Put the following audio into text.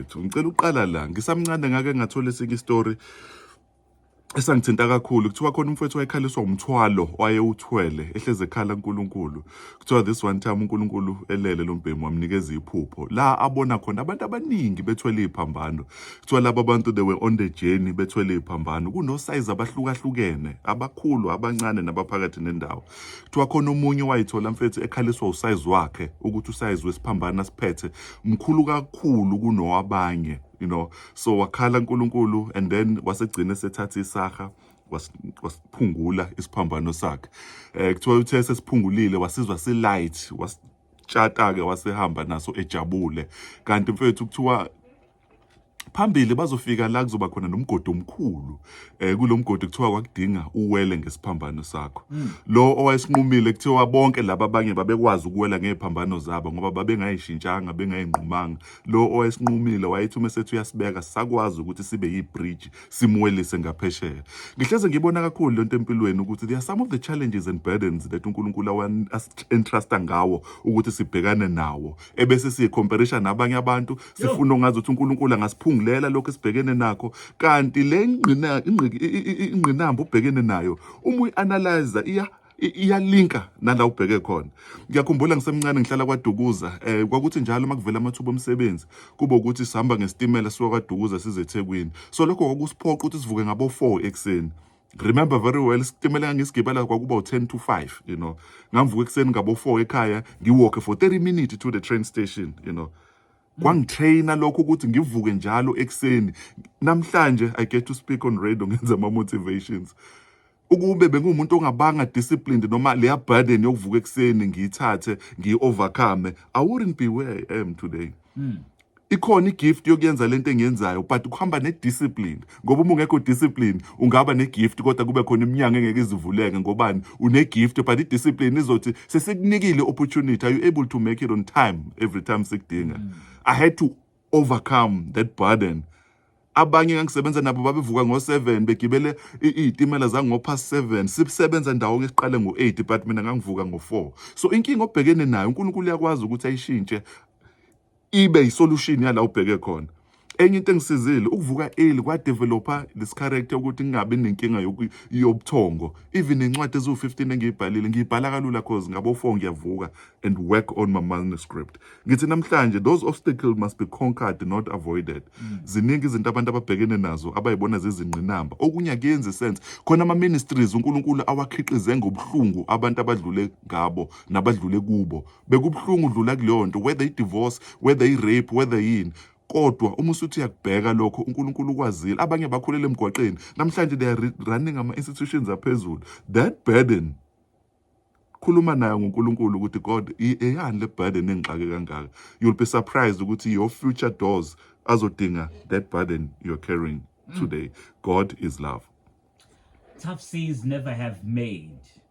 mfethu ngicela uqala la ngisamncane ngake ngathola esinye istory esangithinta kakhulu kuthiwa khona umfowethu wayekhaliswa umthwalo wayewuthwele ehleze ekhala uNkulunkulu kuthiwa this one time uNkulunkulu elele lo mbhemu wamnikeza iphupho la abona khona abantu abaningi bethwele iphambano kuthiwa laba bantu they were on the journey bethwele iphambano kunosize abahlukahlukene abakhulu abancane nabaphakathi nendawo kuthiwa khona omunye wayithola mfethu ekhaliswa usayizi wakhe ukuthi usayizi wesiphambana siphethe mkhulu kakhulu kunowabanye you know so wakhala uNkulunkulu and then wasegcina sethatha isaha wasiphungula isiphambano sakhe eh kuthiwa uthe sesiphungulile wasizwa si light wasitshata ke wasehamba naso ejabule kanti mfethu kuthiwa Phambili bazofika la kuzoba khona nomgodi omkhulu eh kulomgodi kuthiwa kwakudinga uwele ngesiphambano sakho hmm. lo owayesinqumile kuthiwa bonke laba abanye babekwazi ukuwela ngeziphambano zabo ngoba babengayishintshanga bengayinqumanga lo owayesinqumile wayethi uma sethu uyasibeka sakwazi ukuthi sibe yibridge simwelise ngaphesheya ngihleze ngibona kakhulu lento empilweni ukuthi there are some of the challenges and burdens that uNkulunkulu awa-entrusta ngawo ukuthi sibhekane nawo ebese siyicomparisha nabanye abantu sifuna ungazi ukuthi uNkulunkulu angasiphungulela lokho esibhekene nakho kanti le ngqina ingqinamba ubhekene nayo uma uyianalyze iya iyalinka nala ubheke khona ngiyakhumbula ngisemncane ngihlala kwadukuza eh kwakuthi njalo makuvela amathuba omsebenzi kube ukuthi sihamba ngesitimela siwa kwadukuza size eThekwini so lokho kwakusiphoqa ukuthi sivuke ngabo 4 ekseni remember very well isitimela ngangisigibela kwakuba u10 to 5 you know ngamvuka ekseni ngabo 4 ekhaya ngiwalk for 30 minutes to the train station you know kwangitraina lokho ukuthi ngivuke njalo ekuseni namhlanje i get to speak on radio ngenza ama motivations ukube bengumuntu ongabanga disciplined noma leya burden yokuvuka ekuseni ngiyithathe ngiyi-overcome i wouldn't be where i am today mm. ikhona igift yokuyenza lento engiyenzayo but kuhamba nediscipline ngoba uma ungekho discipline ungaba negift kodwa kube khona iminyango engeke izivuleke ngobani unegift but idiscipline izothi sesikunikile opportunity are you able to make it on time every time sikudinga mm. i had to overcome that burden abanye ngangisebenza nabo babevuka ngo-7 begibele iy'timela zango-past 7 sisebenza ndawonye siqale ngo-8 but mina ngangivuka ngo-4 so inkinga obhekene nayo unkulunkulu uyakwazi ukuthi ayishintshe ibe isolution yala ubheke khona enye into engisizile ukuvuka early kwa developer this character ukuthi ngingabi nenkinga yobuthongo even incwadi eziwu 15 engiyibhalile ngiyibhala kalula cause ngabo 4 ngiyavuka and work on my manuscript ngithi namhlanje those obstacles must be conquered not avoided mm. ziningi izinto abantu ababhekene nazo abayibona zizingqinamba okunye akuyenzi sense khona ama ministries uNkulunkulu awakhiqize ngobuhlungu abantu abadlule ngabo nabadlule kubo bekubuhlungu udlula kuleyo nto whether i-divorce whether i-rape whether yini kodwa uma usuthi uyakubheka lokho uNkulunkulu ukwazile abanye bakhulele emgwaqeni namhlanje they are running ama institutions aphezulu that burden khuluma naye ngoNkulunkulu ukuthi God eyani le burden engixake kangaka you'll be surprised ukuthi your future doors azodinga that burden you're carrying mm. today God is love tough seas never have made